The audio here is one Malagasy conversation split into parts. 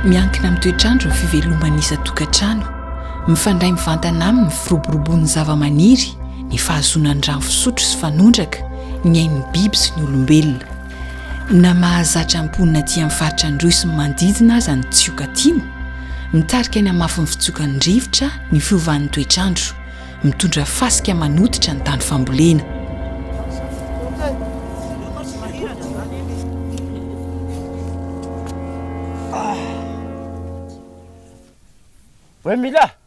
Miankina amin'ny toetr'andro ny fiveloman'ny isan-tokantrano. Mifandray mivantana aminy ny firoborobon'ny zavamaniry, ny fahazoana ny rano fisotro sy fanondraka, ny ain'ny biby sy ny olombelona. Na mahazatra mponina aty amin'ny faritra Androy sy ny manodidina aza ny tsioka atimo, mitarika ny hamafin'ny fitsokan'ny rivotra ny fiovan'ny toetr'andro, mitondra fasika manototra ny tany fambolena. Voay mila!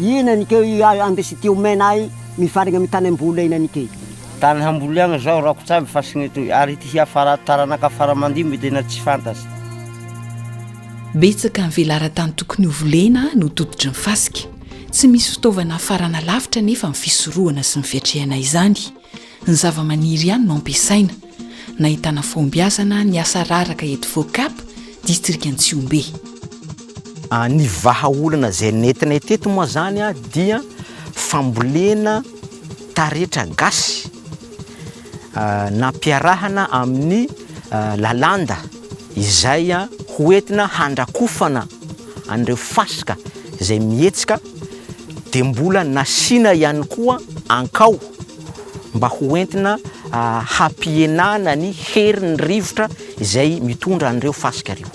Ina ny keo i andesy ty omena ahy mifarigna amy tany amboly ina ny key. Tany hamboly agny zao rakotra aby fasigny etoy ary ity hiafara taranaka fara mandimby tena tsy fantatry. Betsaka ny velaran-tany tokony ho volena no tototry ny fasika. Tsy misy fitaovana hafarana lavitra anefa ny fisorohana sy ny fiatrehana izany. Ny zavamaniry ihany no ampiasaina. Nahitana fahombiazana ny asa raraka eto Focap, distrikan'i Tsihombe. Ny vahaolana izay nentinay teto moa izany dia fambolena taretra gasy nampiarahana amin'ny lalanda. izay ho entina handrakofana an'ireo fasika izay mihetsika dia mbola nasiana ihany koa ankao mba ho entina hampihenana ny herin'ny rivotra izay mitondra an'ireo fasika ireo.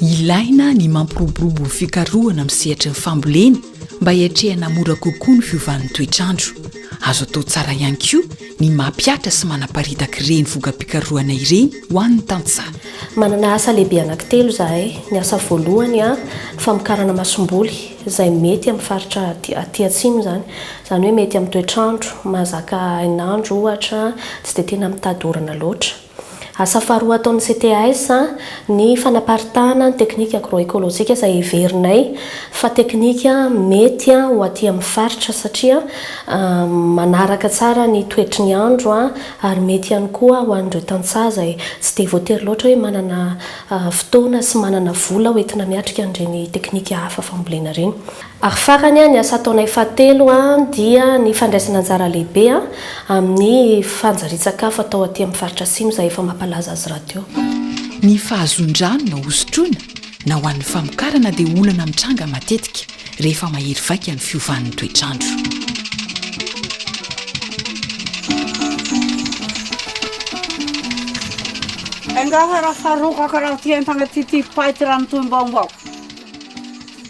Ilaina ny mampiroborobo ny fikarohana amin'ny sehatry ny fambolena Mba hiatrehana mora kokoa ny fiovan'ny toetr'andro, azo atao tsara ihany koa ny mampihatra sy manaparitaka ireny vokam-pikarohana ireny ho an'ny tantsaha. Manana asa lehibe anankitelo izahay. Ny asa voalohany, ny famokarana masomboly, izay mety amin'ny faritra aty atsimo izany. Izany hoe mety amin'ny toetr'andro mahazaka hainandro, ohatra, tsy dia tena mitady orana loatra. Asa faharoa ataon'ny CTAS ny fanaparitahana ny teknika agro-ekolojika izay heverinay fa teknika mety ho aty amin'ny faritra satria manaraka tsara ny toetry ny andro ary mety ihany koa ho an'ireo tantsaha izay tsy dia voatery loatra hoe manana fotoana sy manana vola hoentina miatrika an'ireny teknika hafa fambolena ireny. Ary farany, ny asa ataonay fahatelo dia ny fandraisana anjara lehibe amin'ny fanjarian-tsakafo atao aty amin'ny faritra Atsimo izay efa mampalaza azy rahateo. Ny fahazoan-drano na hosotroina na ho an'ny famokarana dia olana mitranga matetika rehefa mahery vaika ny fiovan'ny toetr'andro. Enga fa raha sarokaka raha tia entana tia tia fipaitra raha mitohy mbaombao.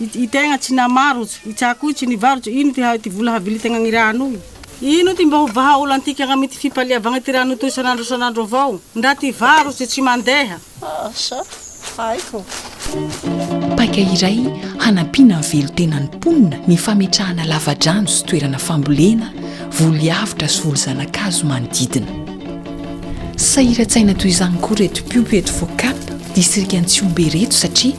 I tegna tsy namarotsy, i Tsako io tsy nivarotsy, ino ty ty vola havily tegna gny rano io? Ino ty mba ho vahaolantika gnamy ty fipaliavagna ty rano toy isan'andro isan'andro avao? Ndra ty varotsy tsy mandeha. Asa, haiko. Paika iray hanampiana ny velon-tenan'ny mponina ny fametrahana lavadrano sy toerana fambolena, voly avotra sy voly zana-kazo manodidina. Sahiran-tsaina toy izany koa ireto mpiompy eto Focap, distrika Antsihombe ireto satria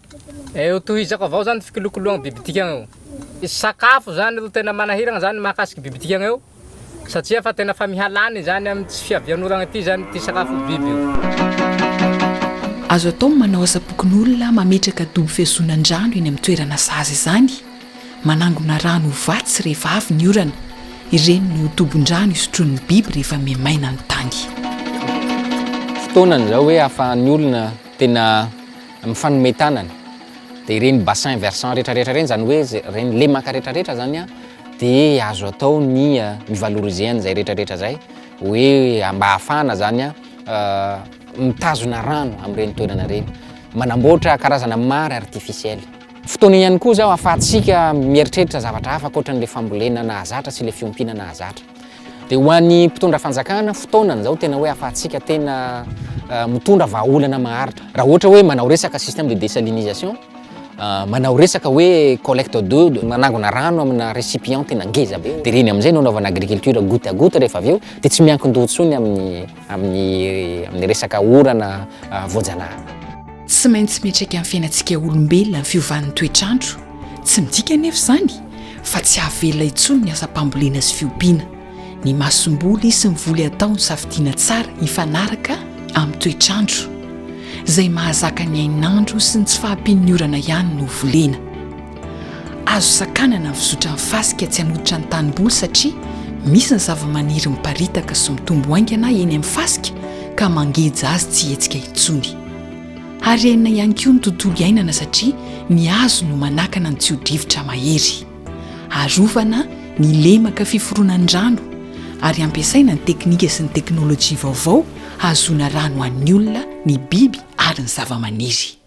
Eh, ho tohizako avao zany fikolokoloagny biby dikagna io. Sakafo zany ro tena manahiragna zany mahakasiky biby dikagna io, satria fa tena fa mihalany izany amy tsy fiavian'oragna ity zany ty sakafo biby io. Azo atao ny manao asam-pokonolona mametraka dobo fihazonan-drano eny amin'ny toerana sahaza izany, manangona rano ho vatsy rehefa avy ny orana. Ireny no tobon-drano isotroan'ny biby rehefa miha-maina ny tany. Fotoanan'izao hoe ahafahan'ny olona tena. Ny fanome tanana dia ireny bassin versant retraretra ireny izany hoe ireny lemaka retraretra izany an, dia azo atao ny mi valoriser an'izay retraretra izay hoe mba ahafahana izany mitazona rano amin'ireny toerana ireny, manamboatra karazana mare artificiel. Fotoana io ihany koa izao ahafahantsika mieritreritra zavatra hafa ankoatra an'ilay fambolena nahazatra sy ilay fiompiana nahazatra. Dia ho an'ny mpitondra fanjakana, fotoana izao tena hoe afahantsika tena eh, mitondra vahaolana maharitra. Raha ohatra hoe manao resaka système de désalinisation, eh, manao resaka hoe collecte d'eau, manangona rano amina récipient tena ngeza be, dia ireny amin'izay no anaovana agriculture goutte à goutte rehefa avy eo, dia tsy miankin-doha intsony amin'ny amin'ny amin'ny resaka orana voajanahary. Tsy maintsy miatraiky amin'ny fiainantsika olombelona ny fiovan'ny toetr'andro, tsy midika anefa izany fa tsy hahavelona intsony ny asam-pambolena sy fiompiana. Ny masomboly sy ny voly atao no safidiana tsara hifanaraka amin'ny toetr'andro. Izay mahazaka ny hainandro sy ny tsy fahampian'ny orana ihany no volena. Azo sakanana ny fizotran' ny fasika tsy hanototra ny tanimboly satria misy ny zavamaniry miparitaka sy mitombo haingana eny amin' ny fasika ka mangeja azy tsy hihetsika intsony. Harena ihany koa ny tontolo iainana satria ny hazo no manakana ny tsio-drivotra mahery. Arovana ny lemaka fiforonan' ny rano ary ampiasaina ny teknika sy ny teknolojia vaovao hahazoana rano ho an' ny olona, ny biby ary ny zavamaniry.